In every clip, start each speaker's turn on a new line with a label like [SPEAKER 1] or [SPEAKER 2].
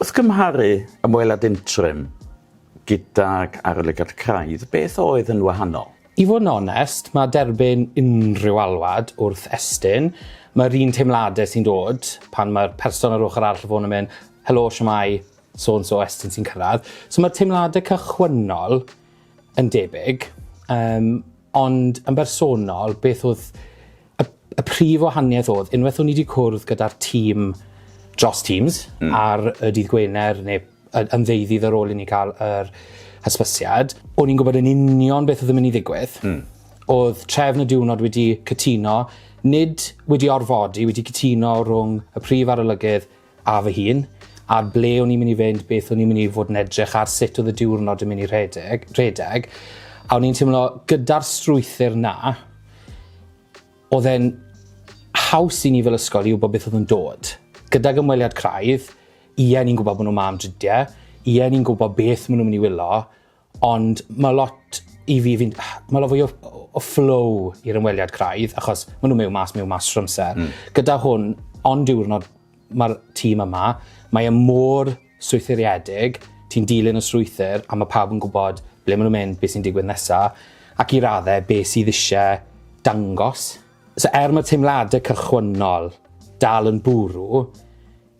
[SPEAKER 1] Wrth gymharu ymweliad interim gydag arolygiad craidd, beth oedd yn wahanol? I fod yn onest,
[SPEAKER 2] mae derbyn unrhyw alwad wrth Estyn, mae'r un teimladau sy'n dod pan mae'r person ar ochr arall y ffôn yn mynd, helo, shwmae, so and so, Estyn sy'n cyrraedd. So mae'r teimladau cychwynnol yn debyg, um, ond yn bersonol, beth oedd Y, y prif wahaniaeth oedd, unwaith o'n i wedi cwrdd gyda'r tîm dros Teams mm. ar y dydd Gwener neu yn ddeuddydd ar ôl i ni cael yr hysbysiad, o'n i'n gwybod yn union beth oedd yn mynd i ddigwydd. Mm. Oedd trefn y diwrnod wedi cytuno, nid wedi orfodi, wedi cytuno rhwng y prif arolygydd a fy hun, ar ble o'n i'n mynd i fynd, beth o'n i'n mynd i fod yn edrych ar, sut oedd y diwrnod yn mynd i rhedeg, rhedeg, a o'n i'n teimlo gyda'r strwythyr na, oedd e'n haws i ni fel ysgol i wybod beth oedd yn dod. Gydag ymweliad craidd, ie ni'n gwybod bod nhw'n ma am dridiau, ie ni'n gwybod beth maen nhw'n mynd i wylo, Ond mae lot i fi, fi'n... mae lot fwy o, o flow i'r ymweliad craidd, achos maen nhw mewn mas, mewn mas trwy amser. Mm. Gyda hwn, ond diwrnod mae'r tîm yma, mae e mor strwythuriedig, ti'n dilyn y strwythyr, a mae pawb yn gwybod ble maen nhw'n mynd, beth sy'n digwydd nesaf, ac i raddau beth sydd eisiau dangos. So er mae teimladau cychwynnol dal yn bwrw,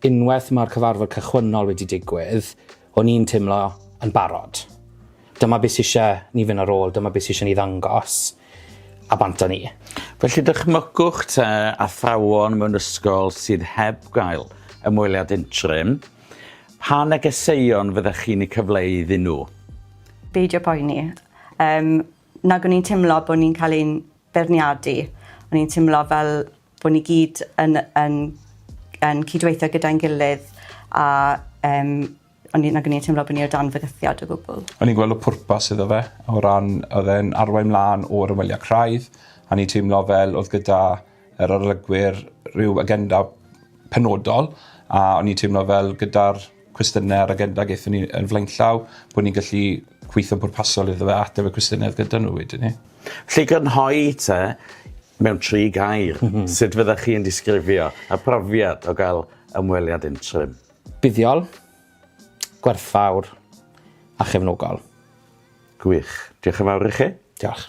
[SPEAKER 2] Unwaith mae'r cyfarfod cychwynnol wedi digwydd, o'n i'n teimlo yn barod. Dyma beth sydd eisiau ni fynd ar ôl, dyma beth sydd eisiau ni ddangos, a bant â ni. Felly dychmygwch
[SPEAKER 1] te athrawon mewn ysgol sydd heb gael ymweliad interim, pa negeseuon fyddech chi'n eu cyfleu iddyn nhw? Beidio
[SPEAKER 3] poeni. Yym, nag o'n i'n teimlo bod ni'n cael ein beirniadu, o'n i'n teimlo fel bod ni gyd yn, yn, yn cydweithio gyda'n gilydd a um, o'n i, nag o'n i'n teimlo bod ni o dan fygythiad o gwbl. O'n i'n gweld y pwrpas
[SPEAKER 4] iddo fe o ran oedd e'n arwain mlaen o'r ymweliad craidd a ni teimlo fel oedd gyda yr arolygwyr rhyw agenda penodol a o'n i'n teimlo fel gyda'r cwestiynau ar agenda gaethon ni yn flaenllaw, bod ni'n gallu gweithio'n bwrpasol iddo fe a ateb y cwestiynau oedd gyda nhw wedyn ni. Felly grynhoi
[SPEAKER 1] te mewn tri gair, mhm. sut fyddech chi'n disgrifio y profiad o gael ymweliad interim? Buddiol, gwerthfawr a chefnogol. Gwych. Diolch
[SPEAKER 2] yn fawr i chi.
[SPEAKER 1] Diolch.